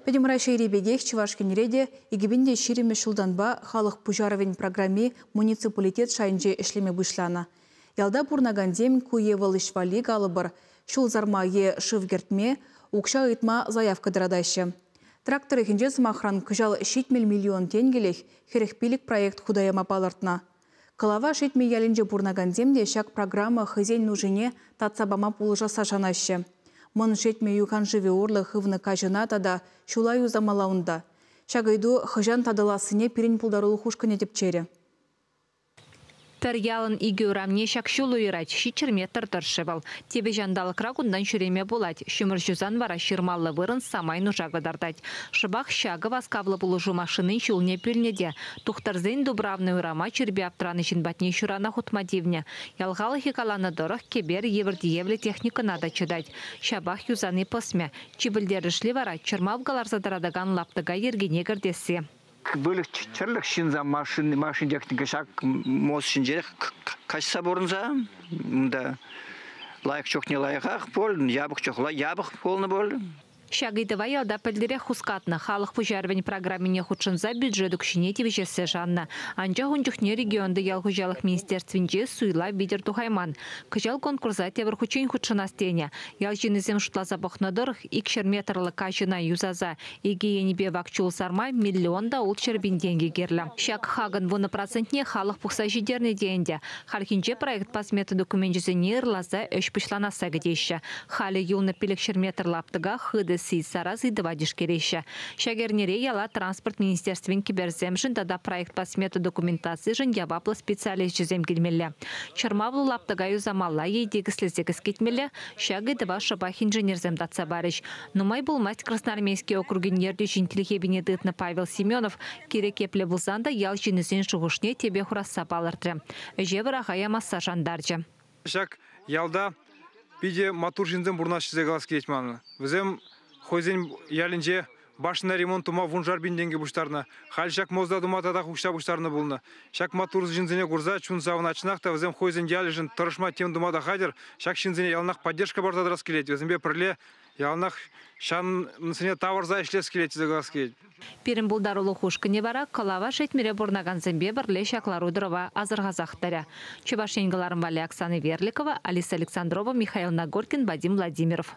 Пӗтӗм Раҫҫейри пекех Чӑваш Енре те икӗ пин те ҫирӗммӗш ҫултанпа халӑх пуҫарӑвӗн программи муниципалитет шайӗнче ӗҫлеме пуҫланӑ. Ялта пурӑнакансем ку е вӑл ӗҫ валли, калӑпӑр, ҫул сарма е шыв кӗртме, укҫа ыйтма заявка тӑратаҫҫӗ. Трак тӑрӑхӗнче, сӑмахран, кӑҫал ҫитмӗл миллион тенкӗлӗх хӗрӗх пилӗк проект хута яма палӑртнӑ. Кӑлава Шетмӗ ялӗнче пурӑнакансем те ҫак программа хӑйсен нушине татса пама пулӑшасса шанаҫҫӗ. Мӑн Шетмӗ юхан шывӗ урлӑ хывнӑ каҫӑна тата ҫула юсамалла унта. Ҫак ыйту хӑҫан татӑлассине пирӗн пултарулӑх ушкӑнӗ тӗпчерӗ. Пӗр ялӑн икӗ урамне ҫак ҫул уйӑрать, ҫиччӗр метр тӑршшӗ вӑл. Типӗ ҫанталӑкра кунтан ҫӳреме пулать, ҫумӑр ҫусан вара ҫырмаллӑ вырӑн самай нуша кӑтартать. Шӑпах ҫакӑ васкавлӑ пулӑшу машинин ҫулне пӳлнӗ те. Тухтӑрсен Дубравный урама чирпе аптӑранӑ ҫын патне ҫурана хутма тивнӗ. Ял халӑхӗ каланӑ тӑрӑх, кӗпер евӗр тиевлӗ техникӑна та чӑтать. Ҫапах юсани пӑсмӗ. Чи пӗлтерӗшли вара, чӑрмав кӑларса тӑратакан лаптӑка йӗркене кӗртесси. Выльӑх-чӗрлӗх ҫынса машин, машин техника ҫак мост ҫинчех каҫса пурӑнса унта лайӑх чухне лайӑхах пуль, япӑх чухлӗ япӑх пулнӑ пуль. Ҫак ыйтӑва ялта пӗлтӗрех хускатнӑ халӑх пуҫарӑвӗн программине хутшӑнса бюджет укҫине тивӗҫессе шаннӑ. Анчах ун чухне регионти ял хуҫалӑх министерствинче суйлав витӗр тухайман. Кӑҫал конкурса тепӗр хутчен хутшӑнас тенӗ. Ял ҫыннисем шутласа пӑхнӑ тӑрӑх, икҫӗр метрлӑ каҫӑна юсаса икӗ енӗпе вак чул сарма миллион та улт ҫӗр пин тенкӗ кирлӗ. Ҫак хакӑн вунӑ процентне халӑх пухса ҫитернӗ те ӗнтӗ. Хальхинче проектпа смета докуменчӗсене ырласа ӗҫ пуҫланасса кӗтеҫҫӗ. Халӗ юлнӑ пилӗкҫӗр метр лаптӑка хытӑ сий, сарас ыйтӑва тишкереҫҫӗ. Ҫак эрнере яла Транспорт министерствин кӗперсемшӗн тата проектпа смета документацишӗн яваплӑ специалисчӗсем килмелле. Чӑрмавлӑ лаптӑка юсамалла е тикӗслесе кӗскетмелле, ҫак ыйтӑва шӑпах инженерсем татса парӗҫ. Нумай пулмасть Красноармейски округӗн ертӳҫин тилхепине тытнӑ Павел Семенов кирек епле пулсан та ял ҫыннисен шухӑшне тӗпе хурасса палӑртрӗ, ӗҫе вӑраха ямасса шантарчӗ. Ҫак ялта питӗ маттур ҫынсем пурӑнаҫҫӗ тесе калас килет ман. Вӗсем хӑйсен ялӗнче башня ремонт тума вуншар пин тенкӗ пуҫтарнӑ. Халь ҫак мозда тума татах укҫа пуҫтарнӑ пулнӑ. Ҫак маттур ҫынсене курса чун савӑнать чӑнах та вӗсем хӑйсен ялӗшӗн тӑрӑшма тем тума та хатӗр. Ҫак ҫынсене яланах поддержка парса тӑрас килет. Вӗсемпе пӗрле Яланах ҫансене тавӑрса ӗҫлес килет тесе калас килет. Пирӗн пултарулӑх ушкӑнӗ вара Кӑлава Шетмӗре пурӑнакансемпе пӗрле ҫак лару-тӑрӑва асӑрхасах тӑрӗ. Чӑваш Ен кӑларӑм валли Оксана Верликова, Алиса Александрова, Михаил Нагоркин, Вадим Владимиров.